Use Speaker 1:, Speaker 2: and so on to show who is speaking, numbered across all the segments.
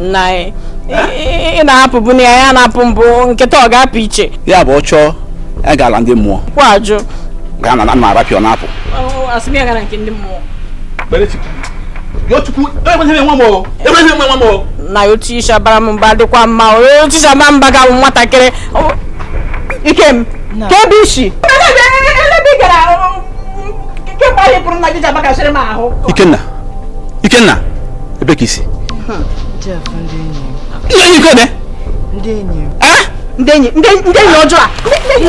Speaker 1: nna anyị ị na-apụ bụ na ya na-apụ mbụ nkịta ọ ga-apụ iche ya bụ ọ chọọ ya ga-ala ndị mmụọ kwa ajụ gaa na na arapịa ọ na-apụ asị m ya gara nke ndị mmụọ na otu isha bara m mba dịkwa mma otu isha bara mba ga nwatakịrị ikem ka ebe isi ikenna ikenna ebe ka isi ihe onye ike ebe ndị enyi ndị enyi ndị enyi ọjọọ a ndị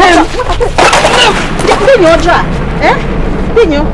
Speaker 1: enyi ọjọọ a ndị enyi ọjọọ a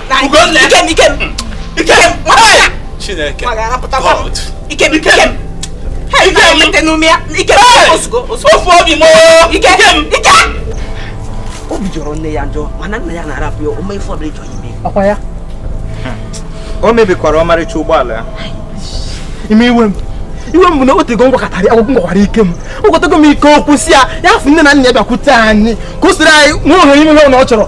Speaker 1: ikem ikem ikem chineke god ikem ikem ofu obi m ikem ikem obi jọrọ nne ya njọ mana nna ya na-arapụ ya o mee ife ọbụla ịchọ ime ọkwa ya o mebikwara ọmarịcha ụgbọala ya ime iwe m iwe m bụ na o tego m gwakọtara ya ọgwụgwụ m gwakwara ikem ogwetago m ike okwu si ya ya fụ nne na nna ya bịakwute anyị ka o siri anyị nwe ohere ime ihe ọ na ọ chọrọ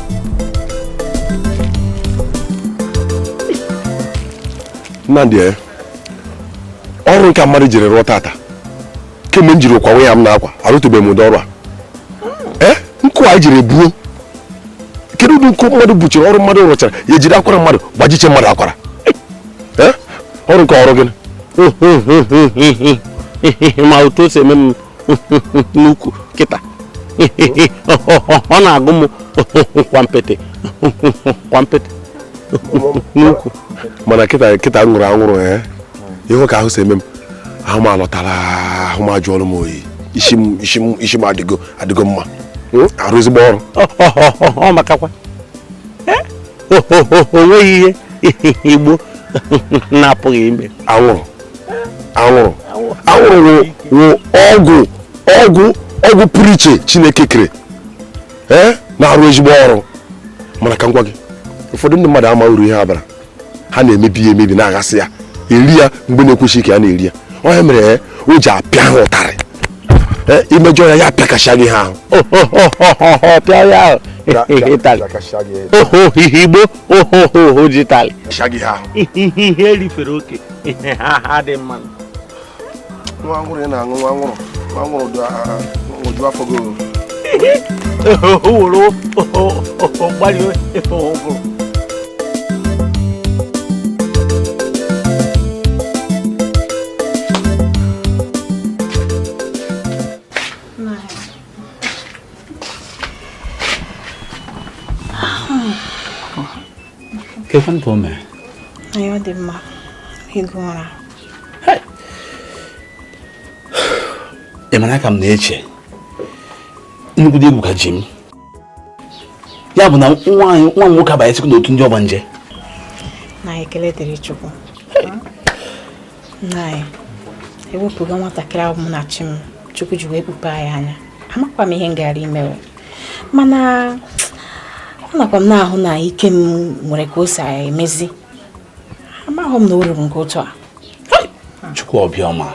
Speaker 1: nnamdị eh, ọrụ nke mmadụ jiri rụọ tata kemgbe m jiri kwawa ihe a m na-akwa arụtụbeghị m ụdị ọrụ a eh, nkụ a jiri buo kedu ụdị nkụ mmadụ buchiri ọrụ mmadụ rụchara ya ejide akwara mmadụ gbajiche mmadụ akwara eh, ọrụ nke ọrụ gịnị ma otu o si eme m n'ukwu kịta ọ na-akụ m kwampete kwampete n'ukwu mana kịta kịta m nwụrụ anwụrụ a eh? ihe ka ahụ si eme m ahụ m alọtara ahụ m ajụọlụ m oyi isi m isi m isi m adịgo adịgo mma hmm? arụ ezigbo ọrụ ọ makakwa eh? o nweghị ihe igbo na-apụghị ime anwụrụ anwụrụ anwụrụ wụ ọgwụ ọgwụ ọgwụ pụrụ iche chineke kere ee na-arụ ezigbo ọrụ mana ka m gwa gị ụfọdụ ndị mmadụ ama uru ihe a baara ha na-emebi ya emebi na-aghasị ya eri ya mgbe na-ekwesịghị ka a na-eri ya ọ ihe mere ya o ji apịa ha ụtarị i mejọọ ya ya apịakasịa gị ahụ pịa ya ahụ ịtalị oho ihe igbo oho oho ji talị ihe erifere oke ihe ha ha dị mma nwa nwụrụ ị na-aṅụ nwa nwụrụ nwa nwụrụ ụdị afọ gị owuru mgbali efe ọhụrụ kekwanụ ka o mere anyị ọ dị mma ịgụ ụra ị mara ka m na-eche nnukwu egwu ka ji m ya bụ na nwa m nwoke abanyesịkwa n'otu ndị ọgbanje na ekele dịrị Chukwu ewepụga nwatakịrị ahụ m na chi m chukwu ji wee kpupe anyị anya amakwa m ihe m gara ime mana anakwa m na-ahụ na Ikem nwere ka o si emezi amaghị m na o ruru nke otu a chukwu obiọma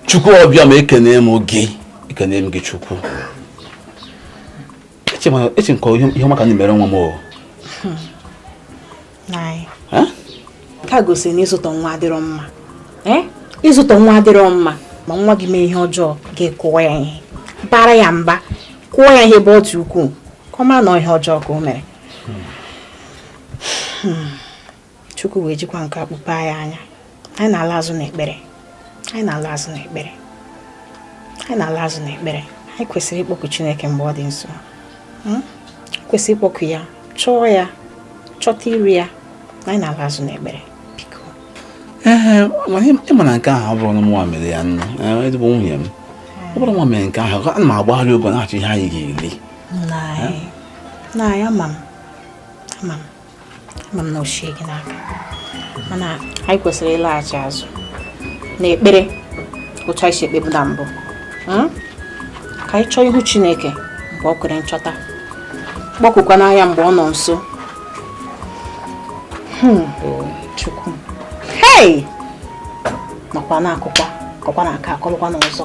Speaker 1: chukwu obiọma ekene m gị ekene m gị chukwu eche m ka ihe ụmụaka ndị mere nwa m o hmm. nke a gosiri na ịzụtọ nwa adịrọ mma ịzụtọ nwa adịrọ mma ma nwa gị mee ihe ọjọọ gị kụọ ya ihe bara ya mba kụọ ya ihe ebe ọ dị ukwuu ka ọ mara na ihe ọjọọ ka o mere hmm. chukwu wee jikwa nke a kpupe ya anya anyị na-ala azụ n'ekpere anyị na-ala azụ n'ekpere anyị na-ala azụ n'ekpere anyị kwesịrị ịkpọku Chineke mgbe ọ dị nso hmm? kwesịrị ịkpọku ya chọọ ya chọta iru ya na anyị na-ala azụ n'ekpere biko ee ịma na nke ahụ ọ bụrọ nụ mụnwa mere ya nụ ezigbo nwunye m ọ bụrọ mụnwa mere nke ahụ ana m agbagharị ogo na-achọ ihe anyị ga-eli nna anyị ama m ama m ma m na o sighị gị n'aka mana anyị kwesịrị ịlaghachi azụ na ekpere otu anyị si ekpebu na mbụ hmm? ka anyị chọọ ihu Chineke mgbe ọ kwere nchọta kpọkukwanụ ya mgbe ọ nọ nso hmm. Chukwu hei makwa na-akụkwa kọkwa na aka akọlụkwa n'ọzọ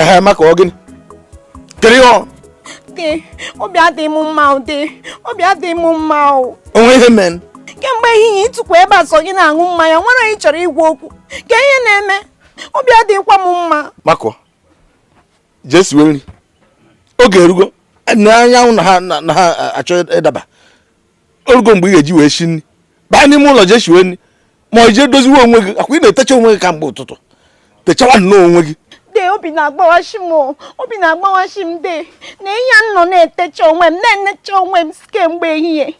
Speaker 1: ehe maka ọ gịnị kere ihe ọ obi adịghị m mma ụdị obi adịghị m mma o nwe ihe mere kemgbe ehihie i tukwu ebe a sọ gị na-aṅụ mmanya nwerọ onye ị chọrọ ịgwa okwu kee ihe na-eme obi adịghịkwa m mma makọ je siwe nri oge erugo na anyanwụ na-achọ ịdaba orugo mgbe ị ga-eji wee shi nri baa n'ime ụlọ jee shiwe nri ma ị jee doziwe onwe gị akwa ị na-etecha onwe gị kamgbe ụtụtụ techawa nnọọ onwe gị de obi na-agbawashi m o. obi na-agbawashi m de na ihe a m nọ na-etecha onwe m na-enecha onwe m kemgbe ehihie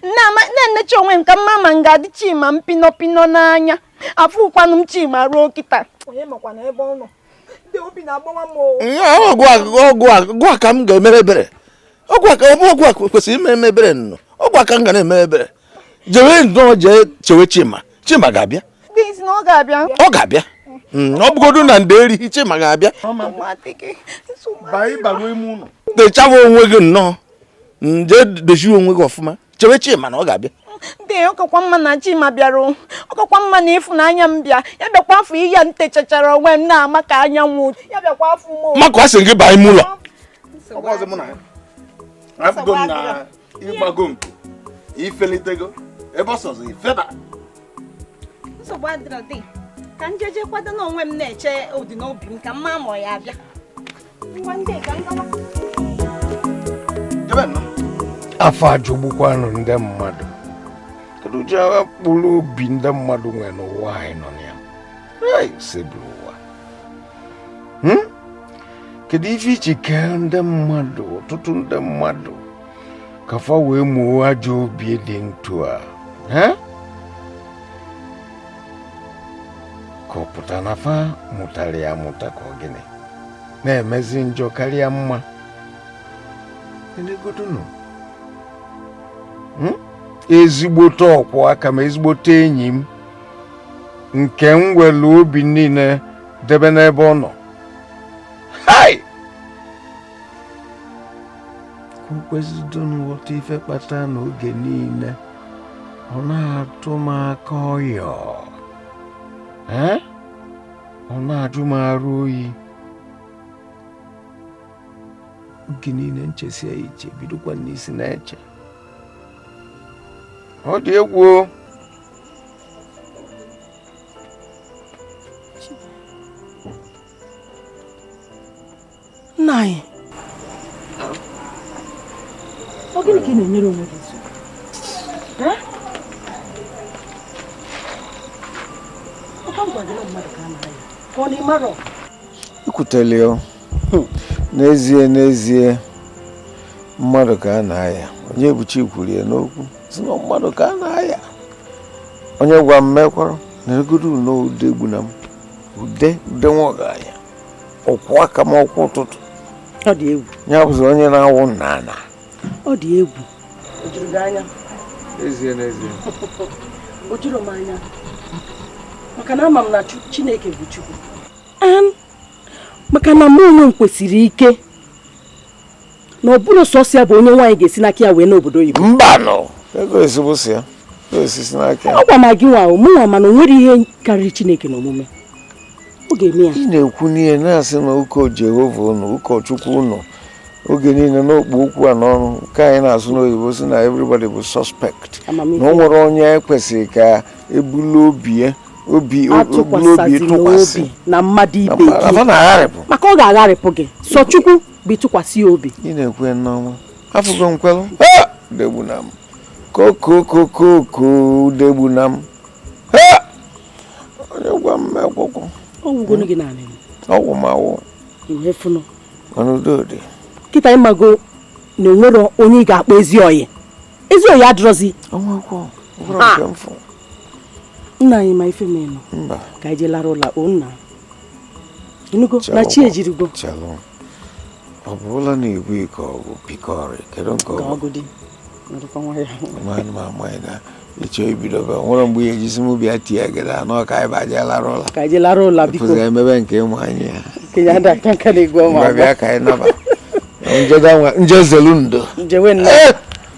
Speaker 1: Na-ama- na-enecha onwe m ka m ma ma m ga-adị chima m pinọpinọ n'anya afụkwanụ m chima ruo kịta onye makwana ebe ọ nọ ọ gụwa ka m ga-emere ebere ọ gụwa kwesịrị imere ebere nnọọ ọ gụwa ka m ga na-eme ebere jewe nnọọ jee chewe chima chima ga-abịa ọ ga-abịa hmm, ọ bụgodu na ndeeri chima ga-abịa techaba onwe gị nnọọ jee dozie onwe gị ọfụma chewe chima na ọ ga-abịa de ọ kakwa mma na chima bịara ọ kakwa mma na ịfụnanya m bịa ya bịakwa afụ ihe a m techachara onwe m na-ama ka anyanwụ ya bịakwa afụ m maka a sị gị baa n'ime ụlọ afụgo m na ị gbago nku i felitego ebe ọ sọzọ i feba nsogbu adịrọ de ka m jeje kwado onwe m na-eche ọ dị n'obi m ka m ma ma ọ ya-abịa afọ ajọgbukwanụ ndị mmadụ kedu ụdị agha mkpụrụ obi ndị mmadụ nwere n'ụwa anyị nọ na ya osebụrụwa hmm? kedu ife i ji kee ndị mmadụ ọtụtụ ndị mmadụ ka fa wee mụọ ajọ obi dị etu a ka ọ pụta na fa mụtara ya amụta ka ọ gịnị na-emezi njọ karịa mma neegodunu hmm? ezigbote ọkwụ aka m ezigbote enyi m nke m were obi niile debe n'ebe ọ nọ hai ka o kwezidonu ghọta ife kpata na oge niile ọ na-atụ m aka ọyọ ọ na-ajụ m arụ oyi oge niile m chesịa echiche bidokwa n'isi na-eche ọ dị egwu nna anyị ọ gịnị ka ị na-enyere onwe gị nsogbu ọkwa m gwara gị na mmadụ ka a na-arịa ka ọ na ị marọ i kwutele ya n'ezie n'ezie mmadụ ka a na-aya onyebuchi kwuru ya n'okwu si na mmadụ ka a na-aya onye gwa m mekwara neegodu na ude egbu na m ude ude nwa ọgaranya ụkwụ aka m ụkwụ ụtụtụ ọ dị egwu ya bụzi onye na-awụ nna ana ọ dị egwu o juru gị anya ezie n'ezie o juru m anya maka na ama m na chineke bụ chukwu maka na mụ onwe m kwesiri ike na ọ bụrụ sọsọ ya bụ onye nwaanyị ga-esi n'aka ya wee n'obodo oyibo mbanụ ego ezigbo si ya esisi n'aka ya ọ gwa m gị nwa mụ nwa mana o nwere ihe karịrị chineke n'omume ọ ga-eme ya ị na-ekwu n'ihe na-asị na ụkọ jehova unu ụkọchukwu unu oge niile n'okpu okwu a n'ọrụ nke anyị na-asụ n'oyibo sị na everybody bụ suspect na o nwere onye kwesịrị ka e bulu obi ya obi e bulu obi tụkwasị na mmadụ ibe gị maka ọ ga-agharịpụ gị sọ chukwu bụ ịtụkwasị ya obi ị na-ekwu ya n'ọnwa afụgo m kwelụ Ha! udegbunam kokokokoko udegbunam Ha! onye gwa m ekwụkwụ ọ gwụgonu gị naanị m ọgwụ m awụ ihe fụnụ mana udo dị kịta ị mago na e nwere onye ị ga-akpọ ezi ọyị ezi ọyị adịrọzi ọnwa akwụkwọ ọ bụrụ nke m fụ nna anyị ma ife menụ mba ka anyị jee lara ụla o nna ị nụgo na chi ejirigo ọ bụrụla na ibu ike ọgwụ pikọrị kedu nke ọgwụ ị chọ ibido be nwere mgbe ihe ejisi m bịa tie gịrị anọ ka anyị baje lara ụla ka anyị lara ụla biko pụzị emebe nke ịmụ anyị ya bịa ka anyị naba njezelu ndo njewe ndo eh!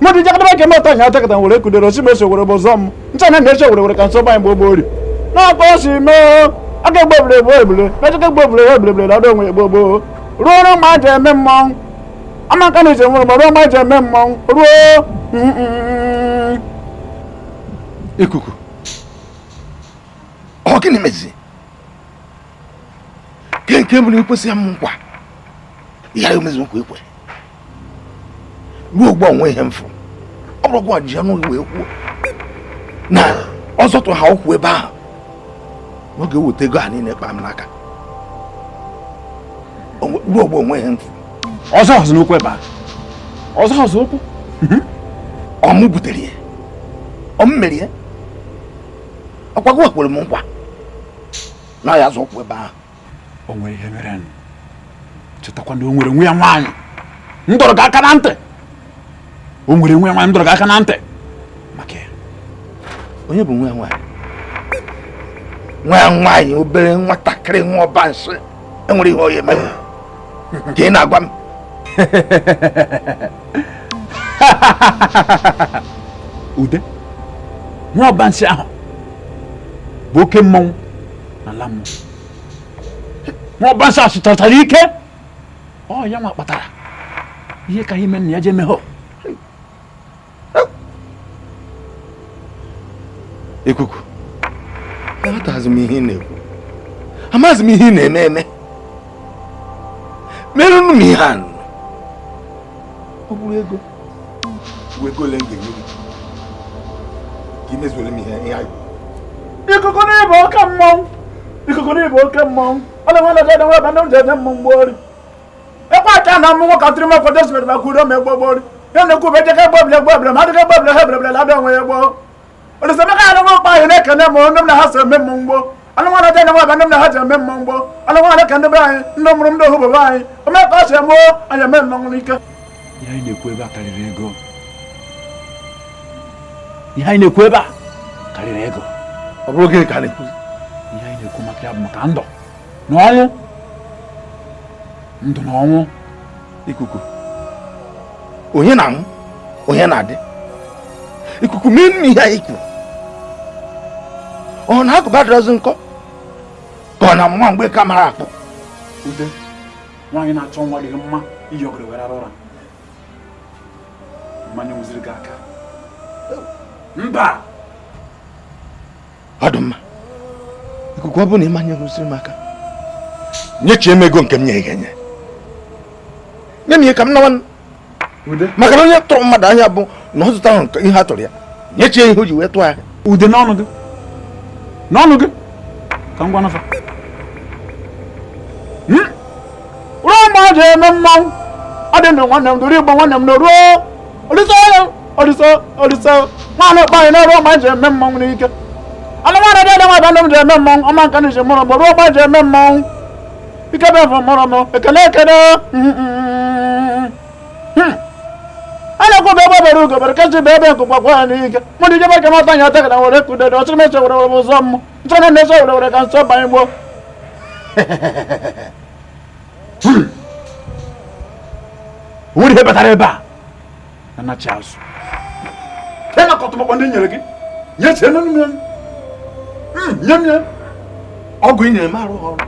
Speaker 1: mmadụ jakọtaba nke mmadụ taji atakọta were kudere osi meso were bụ zọm ncha na na-eche were were ka nsọ banyị gbogbo ori n'ọkọ si mee aka egbe ebule egbe ebule mechaka egbe ebule egbe ebule na ọdụ onwe egbo gboo ruo ọrụ ma ji eme mmọnwụ amaka na ije nwere ma ruo ma ji eme mmọnwụ ruo ikuku ọ gịnị mezi ke nke mbụ na ekwesị m nkwa ya emezu nkwa ekwe ruo ugbu a o nwe ihe m fụrụ ọ bụrụkwa ji ọnụ wee kwuo na ọ zọtụ ha ụkwụ ebe ahụ ọ ga-eweta ego a niile kpaa m n'aka ruo ugbu a o nwe ihe m fụ ọ zọhọzị ụkwụ ebe a ọ zọhọzị ụkwụ mhm. ọ mụ butere ya ọ mụ mere ya ọkwago kwere m nkwa na ya azọ ụkwụ ebe ahụ o nwere ihe merenụ chetakwa na o nwere nwa ya nwaanyị m dọrọ gị aka na ntị o nwere nwa ya nwaanyị m dọrọ gị aka na ntị maka ya onye bụ nwa ya nwaanyị nwa ya nwaanyị obere nwatakịrị nwa ọba nsị e nwere ihe onye mere ka ị na-agwa m ude nwa ọba nsị ahụ bụ oke mmọnwụ n'ala m nwaọbansa sụtatara ike ọ ya nwa kpatara ihe ka ime na ya jee meghọ ikuku aghọtaghịzi m ihe ị na-ekwu amaghịzi m ihe ị na-eme eme merenụ m ihe a ọ bụrụ ego ego ole m ga-enye gị ka i mezuole m ihe ihe anyị ikuku na ị bụ oke mmọnwụ ikuku na ị bụ oke mmọnwụ ọ na-enwe na dada nweba ndị ụjọ ede mmọnwụ gbori ekwe acha na mmọnwụ ka tiri mekwa desibere maka uro ma egbo gbori ya na-ekwu bụ ejeka egbo ebule egbo ebule ma adịghị egbo ebule ha ebule ebule adị onwe ya gboo Olisaemeka anụnwa mkpa anyị na-ekene m ndị m na ha so eme mmụọ mgbo anụnwa na jenye nwaba ndị m na ha ji eme mmụọ mgbo anụnwa na ka ndị be anyị ndị mụrụ ndị ohu bebe anyị ome ka ọ si eme anyị eme mmọnwụ n'ike ihe anyị na-ekwu ebe a karịrị ego ihe anyị na-ekwu ebe a karịrị ego ọ bụrụ gịnị ka a na-ekwu ihe anyị na-ekwu maka ya bụ maka ndụ na ọnwụ ndụ na ọnwụ ikuku onye na-anwụ onye na-adị ikuku meenụ ihe anyị kwuru ọ na agụba adịrọzi nkọ ka ọ na nwa mgbeke amarọ akpụ ude nwaanyị na-achọ nwa adịghị mma iyi ọgọdọ were ara ụra mana e nweziri gị aka mba ọ dị mma ikuku ọ bụ na ị manyeghị usoro m aka nyechie m ego nke m nyere gị enye nye m ihe ka m nawa maka na onye tụrụ mmadụ ahịa bụ na ọ zụtaghị ihe a tụrụ ya nyechie ihe o ji wee tụọ ahịa ude n'ọnụ gị n'ọnụ gị ka m ga-anụ afa ruo ma ọ ji eme mmanwụ ọ dị ndụ nwanne m duru igbo nwanne m na ruo olise olise olise nwaanyị okpe anyị na-ruo ma ji eme mmanwụ n'ike anụmanụ dị nwa ebe m ji eme mmanwụ ọma nka na iji mụrụ m ruo ma ji eme mmanwụ ike bụ efe mụrụ m ekele ekele a na-ekwu bụ egbe bere ugo bere nke sị ibe ebe nku kwaa ya n'ike mụ dị ijebe ka mata nya ata ka na were kudede ọchịrị meche were were ụzọ mmụ nso na nso were were ka nso banye gboo nwere ihe batara ebe a na nachi azụ e na kọtụmọkpọ ndị nyere gị nyechie nne nne hmm, nye m ya ọgwụ ị nyere m arụghị ọrụ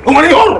Speaker 1: o nwere ihe ọrụ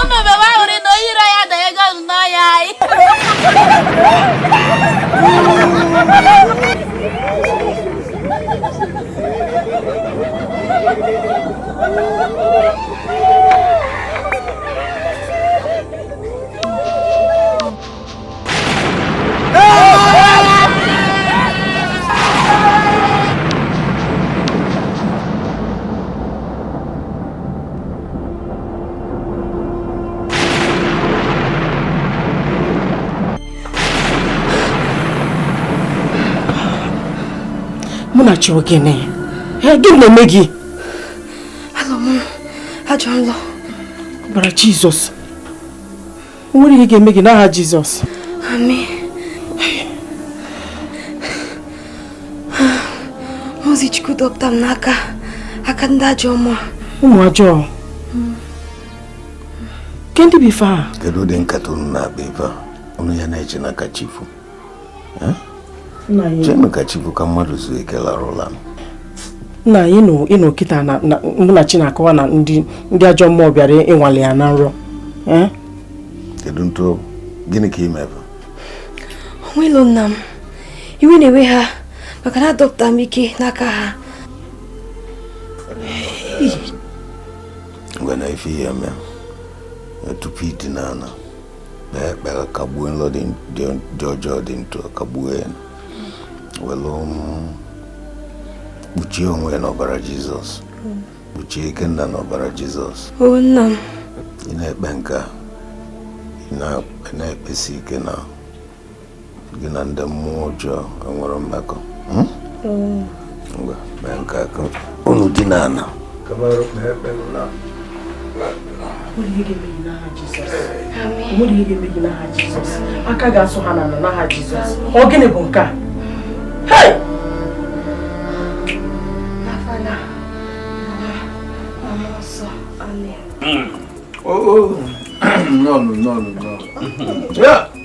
Speaker 1: ụmụ bebe ahụrụ na onye iro ya danye ego azụ n'ọhịa anyị munachi ọ gịnị gịnị na-eme gị alọ m ajọ nlọ ọbara jizọs O nwerọ ihe ga-eme gị n'aha Jizọs. Amen. Ozi Chukwu dọpụta m n'aka aka ndị ajọ mmụọ. Ụmụ ajọọ. Ke ndị bụ ife a? Kedu ụdị nkata unu na-akpa ife a? Unu ya na-eche nụ ka chi fo. chenụ ka chi bọọ ka mmadụ zuo ike larụ ụla nna anyị ị nụọ kịta na munachi na-akọwa na ndị ajọ mmụọ bịara ịnwale ya na nrọ kedu ntụ gịnị ka ị mere nwilo nna m iwe na-ewe ha maka na adọpụta m ike n'aka ha ngwanụ ife ị ya-eme tupu ị dina ala kpee ekpere kagbuo nlọ dị ọjọọ dị etu a kagbuo ya welu um, kpuchie onwe ya n'ọbara jizọs kpuchie ikenna n'ọbara jizọs ị na-ekpe nke a ị na-ekpesi ike na gị na ndị mmụọ ọjọọ enwere mmekọ hmm? hmm. ngwa mee nke a ka unu dina ala aka ga-asụ ha n'ala n'aha Jizọs ọ gịnị bụ nke a Oh, oh. no, no, no, no. Yeah.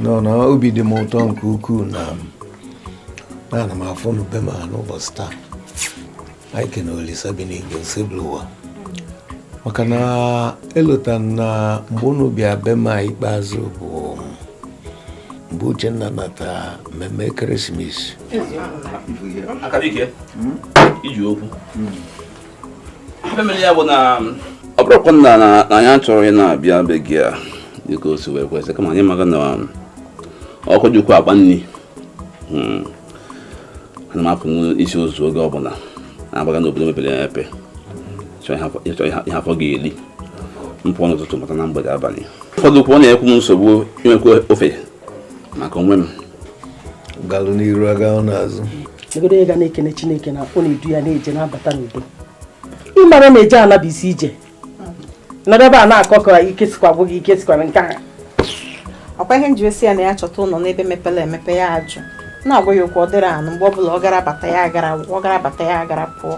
Speaker 1: nnọọ nụ obi dị m ụtọ nke ukwuu na ana m afụ unu be m a n'ụbọchị taa anyị kene olisa bi n'igwe osebụlụwa maka na elota na mgbe unu bịa be m ikpeazụ bụ mgbe uchenna nata mmemme christmas eziokwu ọ bụrọkwanụ na anyị achọghị ịna-abịa be gị a dịka o si wee kwesị kama anyị maka na um, ọkụ jikwa akpa nri hmm. ana m apụ n'isi ozu oge ọbụla na-agbaga n'obodo mepere emepe ịchọ ihe afọ ga-eri m pụọ n'ụtụtụ nata na mgbede abalị ụfọdụ kwụọ na-ekwu m nsogbu inwekwa ofe maka onwe m galụ n'iru aga n'azụ egodo onye ga na-ekene chineke na ọ na-edu ya na-eje na-abata n'udo ị mara na eje ana bụ isi ije nọrọ ebe a na-akọ ka ike sikwa gwụ gị ike sikwara nke a ọkwa ihe nji esi ya na ya chọta ụlọ n'ebe mepere emepe ya ajụ na-agwa ya okwu ọ dịghị anụ mgbe ọ bụla ọ gara bata ya agara ọ gara bata ya agara pụọ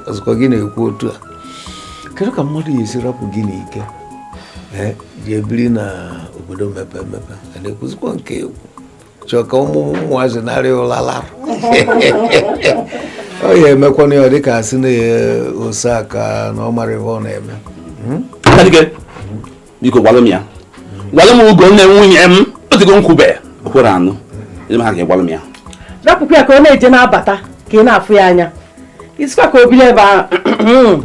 Speaker 1: ọzọkwa gị na-ekwu otu a kedu ka mmadụ ya-esi rapụ gị n'ike ji ebiri na obodo mepee emepe a na-ekwuzikwa nke egwu chọọ ka ụmụ ụmụazị narịa ụla lara ọ ya emekwana ya dịka a sị na ose aka na ọ mara ebe ọ na-eme hmm? biko gwalụ m ya gwalụ m ugo nne nwunye m o tego m kwube o kwere anụ ịma ha ga-egwalụ m ya rapụkwa ya ka ọ na-eje na-abata ka ị na-afụ ya anya isikwa ka o biri ebe ahụ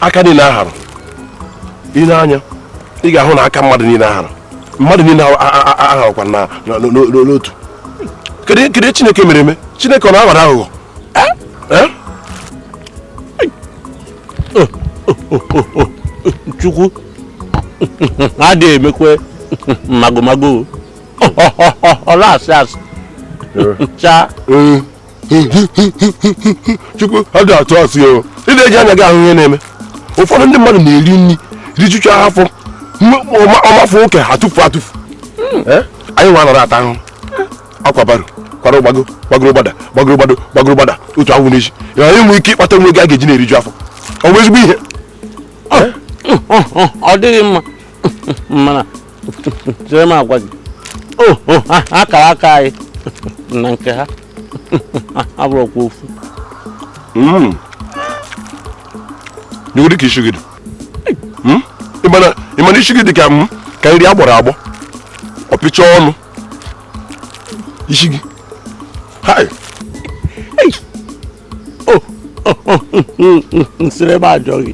Speaker 1: aka niile aharọ i nee anya ị ga-ahụ na aka mmadụ niile aharọ mmadụ niile aharọkwa n'otu kedu chineke mere eme chineke ọ na-aghọ aghụghọ chukwu adịghị emekwe magomago ọ na-asị asị chaa chukwu adị atụ asị o ị na-eji anya gị ahụ ihe na-eme ụfọdụ ndị mmadụ na-eri nri rijucha afọ ọ mafọ nke a tufu atufu anyị nwa anọrọ ata ahụ akwa baro kwara gbago gbagoro gbada gbagoro gbada gbagoro gbada otu ọ wụ n'echi ya anyị nwee ike ịkpata nwa nke a ga-eji na-eriju afọ ọ bụ ezigbo ihe ọ dịghị mma mana chere m agwa gị oh, oh, akara aka anyị na nke ha abụrọkwa ofu hmm. hụgodi ka isi gị dị hmm? ị ma na isi gị dị ka nri agbọrọ agbọ ọ pịcha ọnụ isi gị nsịrị m ajụọ gị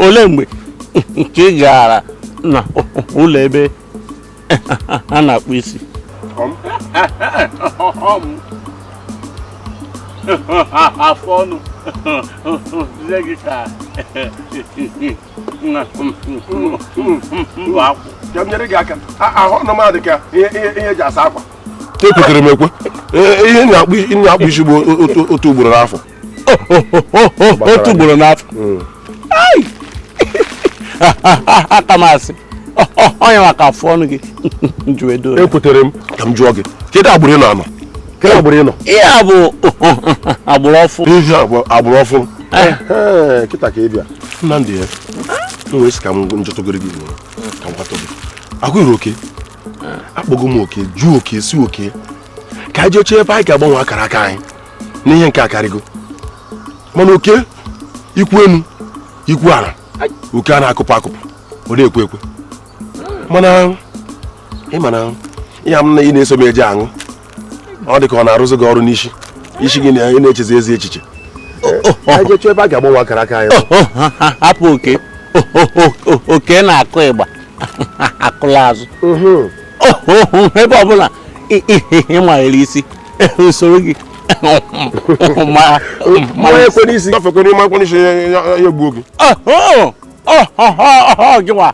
Speaker 1: ole mgbe ka ị gara na ụlọ ebe a na-akpụ isi afọ ọnụ nne gị ka mbụ akwụ ka m nyere gị aka ahụ ọnụ m adị ka ihe eji asa akwa ekwetere m ekwe e, ihe na-akpụ isi bụ otu ugboro n'afọ otu ugboro n'afọ hmm. aka m asị onye maka afụ ọnụ gị ekwetere m ka m jụọ gị kedu agbụrụ ị na-anọ kedu agbụrụ ị nọ ihe a bụ agbụrụ ọfụ ihe agbụrụ ọfụ eh. kịta ka ị bịa nnamdị ya m wee sị ka m jụtụgodu gị ka m kwatọ gị agụghị oke akpọgo m oke jụọ oke sị oke ka anyị jee chọọ ebe anyị ga-agbanwe akara aka anyị na ihe nke a akarịgo mana oke i kwuo enu i kwuo ana oke a na-akụpụ akụpụ ọ na-ekwe ekwe mana ị ma na ihe a m na ị na-eso m eje aṅụ ọ dị ka ọ na-arụzi gị ọrụ n'isi isi gị na-echezi ezi echiche anyị jee chọọ ebe a ga-agbanwe akara aka anyị hapụ oke oke na-akụ ịgba akụla azụ ebe ọbụla ị manyere isi m soro gị ma ekwe n'isi gafekwe n'ime akwa n'isi ya egbuo gị gịwa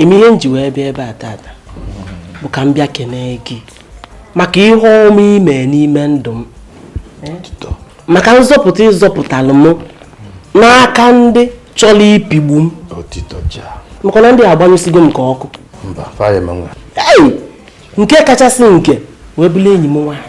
Speaker 1: eme ihe m ji wee bịa ebe a tata bụ ka m bịa kenee gị maka ihe ọma i me n'ime ndụ m maka nzọpụta ị zọpụtalụ m n'aka ndị chọrọ ipigbu m maka na ndị a agbanyụsigo m ka ọkụ nke kachasị nke wee bụrụ enyi m nwaanyị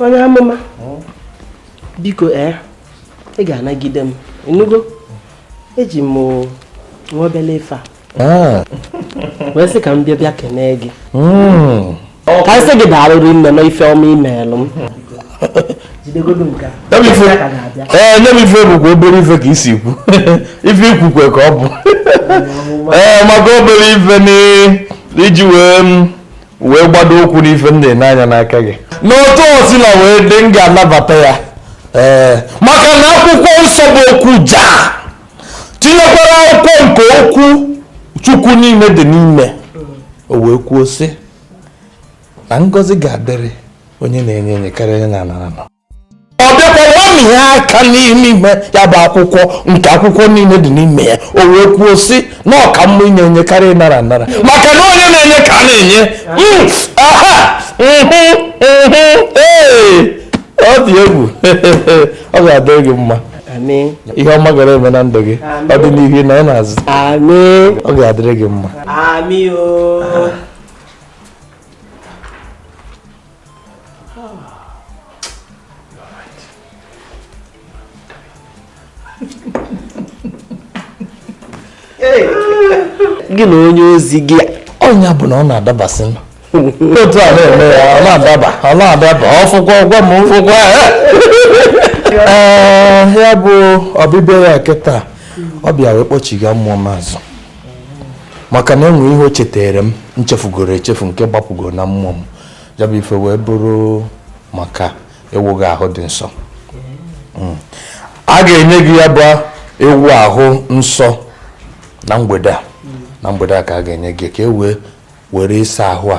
Speaker 1: onye amụma hmm? biko ee eh, ị ga-anagide m ịnụgo eji m nwa obele ife a ah. wee sị ka m bịa bịa kenee gị hmm. ka m sị gị daalụ rinne na ife ọma i meelụ m ee nye m ife bụkwa obere ife ka i si kwuo ife i kwukwa ka ọ bụ ee eh, maka obere ife n'iji wee wee gbado ụkwụ n'ife m na-ene anya n'aka gị n'otu o sina wee dị m ga-anabata ya ee maka na akwụkwọ nsọ bụ okwu ja tinyekwara akwụkwọ nke okwu chukwu niile dị n'ime o wee kwuo sị na ngọzi ga-adịrị onye na-enye enye karịa onye na-anara ana ọ bịakwa nwami ya aka n'ime ime ya bụ akwụkwọ nke akwụkwọ niile dị n'ime ya o wee kwuo sị na ọ ka mma inye enye karịa ịnara anara maka na onye na-enye ka a na-enye Mm, aha mhm, mhm, ee, ọ dị egwu ọ ga-adị gị mma ihe ọma ga na-eme na ndụ gị ọ dị n'ihu ị nọ n'azụ ọ ga-adịrị gị mma Amen o. gị na onye ozi gị ọ nya bụ na ọ na-adabasị n'otu a na-eme ya ọ na-adaba ọ na-adaba ọ fụkwa ọ gwa m ụfụkwa ee ya bụ ọbịbịa ya kịta ọ bịa wee kpọchiga mmụọ m azụ maka na enwere ihe o cheteere m m chefugoro echefu nke gbapụgoro na mmụọ m ya bụ ife wee bụrụ maka ịwụ gị ahụ dị nsọ hmm. a ga-enye gị ya bụ ịwụ ahụ nsọ na mgbede a na mgbede a ka a ga-enye gị ka e wee were ịsa ahụ a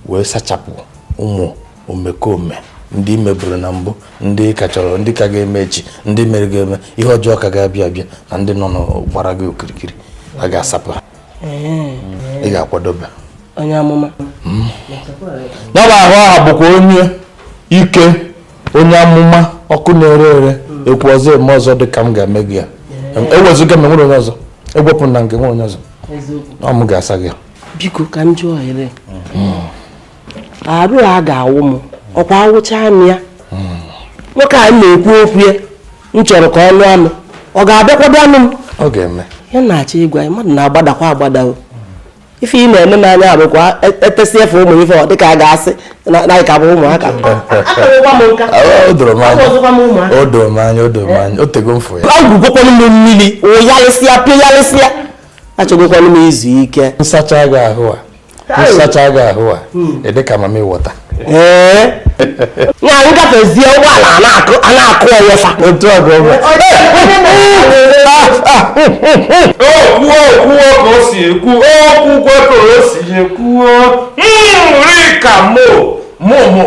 Speaker 1: wee sachapụ ụmụ omekome ndị meburu na mbụ ndị ka chọrọ ndị ka ga-eme echi ndị mere ga-eme ihe ọjọọ ka ga-abịa abịa na ndị nọnụ gbara gị okirikiri a ga-asapụ ha ị ga-akwadobe onye amụma hmm. ya bụ ahụ aha bụkwa onye ike onye amụma ọkụ na-ere ere hmm. ekwu ọzọ eme ọzọ dị ka m ga-eme gị ya ewezuga m enwere onye ọzọ ewepụ na nke nwere onye ọzọ ọ m ga-asa gị ya biko ka m jụọ ohere hmm. arụ a ga-awụ m ọkwa awụcha m ya nwoke a na-ekwu okwu ya m chọrọ ka ọ lụọ m ọ ga-abịakwa bịa nụọ m ọ ga-eme ya na-achọ ịgwa ya mmadụ na-agbadakwa agbada o ife ị na-ene anya bụkwa etesịa ifu ụmụ ife ọ dịka a ga-asị na anyị ka bụ ụmụaka akarakwa m nka o doro m anya ọzọkwa m ụmụaka o doro m anya o doro m anya o tego m fụ ya egwugokwanụ m mmiri wụyalịsịa pịghalịsịa achọgokwanụ m izu ike m sachaa gị ahụ a m sachaa gị ahụ a ị dị ka mamịwọta ee ya anyị gafezie ụgbọala a na-akụ a na-akụ ọnyesa otu a ka ọ bụ okwu okwu ka o si ekwu okwu kwe ka o si ekwu nri ka mo mo mo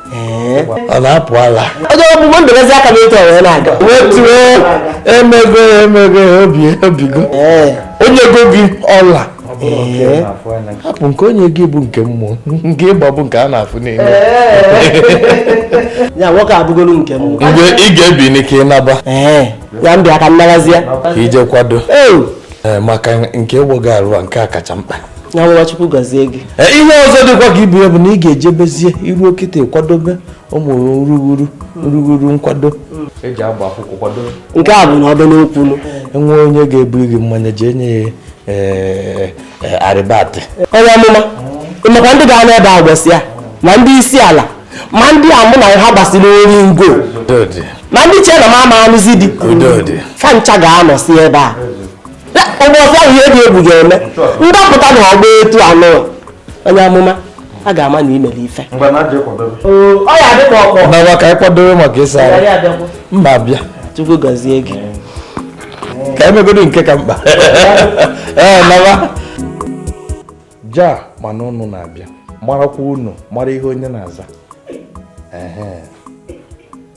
Speaker 1: ọ na-apụ ala onye ọgbụgbọ ndebezi aka n'otu ọ wee na-aga wetuo emego emego obi obigo o nyego gị ọla hapụ nke o nye gị bụ nke mmụọ nke ị gba bụ nke a na-afụ n'elu ya nke a bụgolu nke mmụọ mgbe ị ga-ebi n'ike ịnaba ya m bịa ka m nabazia ka i je kwado maka nke ịwụ gị arụ a nke a kacha mkpa Chukwu gọzie gị e, ihe ọzọ dịkwa ka ibu ya bụ na ị ga-ejebezie i ruo kịta kwadobe ụmụ nrughuru nrughuru nkwado e nke a bụ na ọdọ n'okwu enwe onye ga-ebu gị mmanya jee nye ya e, arịbatị onye amụma ịmakwa ndị ga-anọ ebe a ụbọsị ya ma ndị isi ala ma ndị a mụ na ha gbasiri oringo ma ndị che na m ama anụzi di fa ncha ga-anọsi ebe a ụbọchị ahụ ihe dị egwu ga-eme ndapụta na ọgba etu anụ onye amụma a ga-ama na imere ife nawa ka anyị kwadobe maka ịsa mba bịa chukwu gọzie gị ka emegodo nke ka mkpa ee nawa ja mana unu na-abịa marakwa unu mara ihe onye na-aza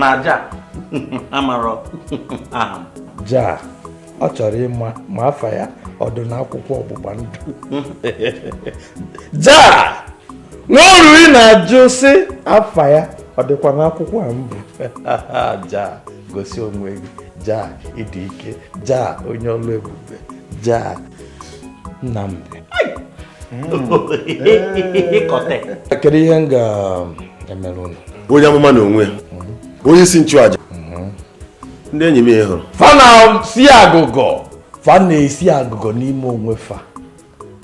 Speaker 1: na ja amarọ aha m ja ọ chọrọ ịma ma afa ya ọ dụ n'akwụkwọ ọgbụgba ndụ ja nwa oriri na-ajụ sị afa ya ọ dịkwa n'akwụkwọ a mbụ ja gosi onwe gị ja ịdị ike ja onye ọlụ ebube ja Nnamdị kedu ihe m ga-emere unu onye amụma na onwe ya onye isi nchụaja ndị enyi m ị hụrụ fa na-esi agụgọ fa na-esi agụgọ n'ime onwe fa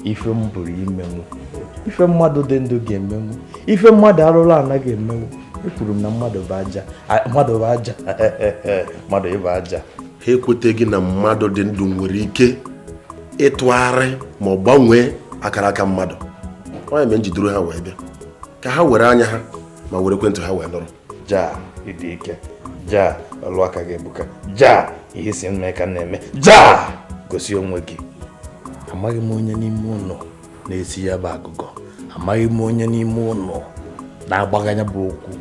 Speaker 1: ife m pụrụ imenwu ife mmadụ dị ndụ ga-emenwu ife mmadụ arụrụ ana ga-emenwu ekwuru m na mmadụ bụ aja mmadụ bụ aja mmadụ ịbụ aja ha ekweteghị na mmadụ dị ndụ nwere ike ịtụgharị ma ọ gbanwee akara aka mmadụ ọ ya mere nji duru ha wee bịa ka ha were anya ha ma were ekwentị ha wee nụrụ ja ịdị ike ja ọlụ aka gị ebuka ja ihe ị sị m mee ka m na-eme ja gosi onwe gị amaghị m onye n'ime unu na-esi ya bụ agụgọ amaghị m onye n'ime unu na-agbagha ya bụ okwu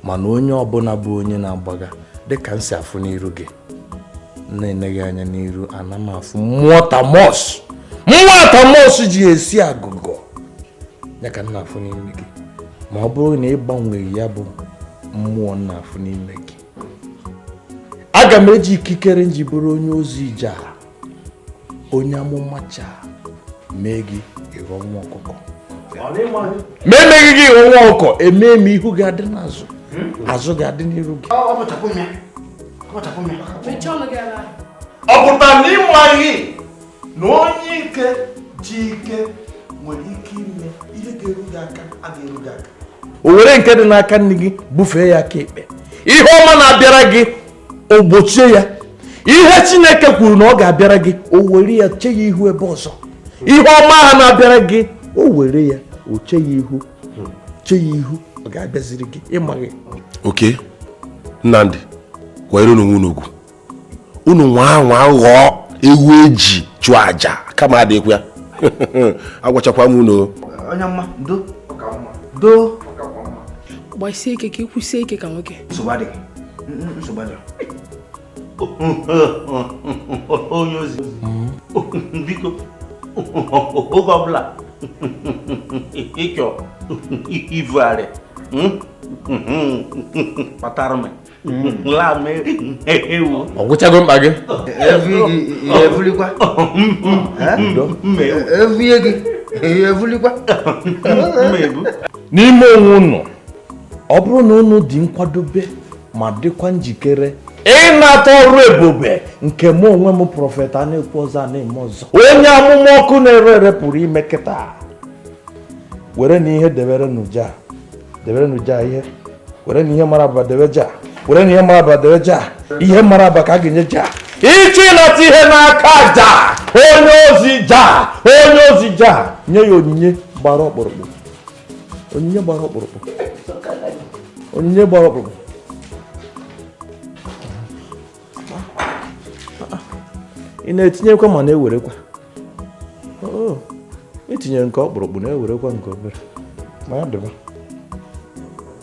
Speaker 1: mana onye ọbụla bụ onye na-agbagha dịka m si afụ n'iru gị m na-ene gị anya n'iru ana m afụ mmụọ Thomas mmụọ Thomas ji esi agụgọ ya ka m na-afụ n'ime gị ma ọ bụrụ na ị gbanweghị ya bụ mmụọ m na-afụ n'ime gị aga m eji ikikere nji bụrụ onye ozi ja onye amụma ja mee gị ịghọ nwa ọkụkọ ma emeghị gị ịghọ nwa ọkụkọ emee m ihu gị adị n'azụ hmm? azụ gị adị n'iru gị ọ pụtara na ịmaghị na onye ike ji ike nwere ike ime ihe ga-eru gị aka a ga-eru gị aka o were nke dị n'aka nni gị bufee ya aka ekpe ihe ọma na-abịara gị o gbochie ya ihe chineke kwuru na ọ ga-abịara gị o were ya chee ya ihu ebe ọzọ ihe ọma ha na-abịara gị o were ya o chee ya ihu chee ya ihu ọ ga-abịaziri gị ịmaghị oke nnamdị kwanyerenu onwe unu ugwu unu anwa anwa ghọọ ewu eji chụọ aja kama adịkwa ya agwachakwa m unu onye mma do do gbasie ike ka ịkwụsie ike ka nwoke onye ozi hmm? biko oge ọbụla ị chọ ivugharị kpatara m laa m ewu ọ gwụchago mkpa gị evulikwa evulie gị evulikwa n'ime onwe ụnụ ọ bụrụ na unu dị nkwadobe ma dịkwa njikere ịnata ọrụ ebube nke mụ onwe m prọfet a na-ekwu ọzọ a na-eme ọzọ onye amụma ọkụ na-ere ere pụrụ ime kịta werenụ ihe deberenụ ja deberenụ ja ihe werenụ ihe mara abụba debe ja werenụ ihe mara abụba debe ja ihe mara abụba ka a ga-enye ja ị chọọ ịnata ihe n'aka ja onye ozi ja onye ozi ja nye ya onyinye gbara ọkpụrụkpụ onyinye gbara ọkpụrụkpụ onyinye gbara ọkpụrụkpụ ị na-etinyekwa ma na-ewerekwa i tinye nke ọkpụrụkpụ na-ewerekwa nke obere ma ya dịba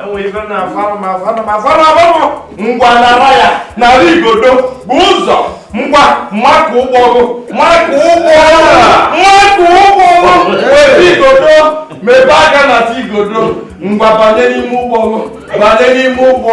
Speaker 1: enwere ibe na afara m afara m afara afara ngwa nara ya nara igodo bu ụzọ ngwa makụ ụgbọ ọgụ makụ ụgbọ makụ ụgbọ ọgụ were igodo mebe aka na ti igodo ngwa banye n'ime ụgbọ ọgụ banye n'ime ụgbọ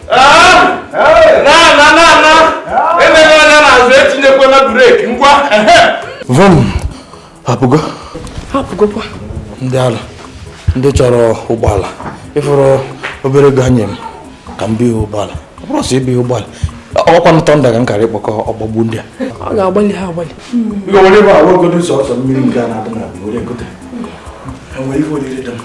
Speaker 1: ndị ala ndị chọrọ ụgbọala ị fụrụ obere ego a nye m ka m bihe ụgbọala ọ bụrụ sọ ibihe ụgbọala ọkwa nụtọ nda ka m kara ịkpọkọ ọgbagbu ndị a ọ ga-agbalị ha agbalị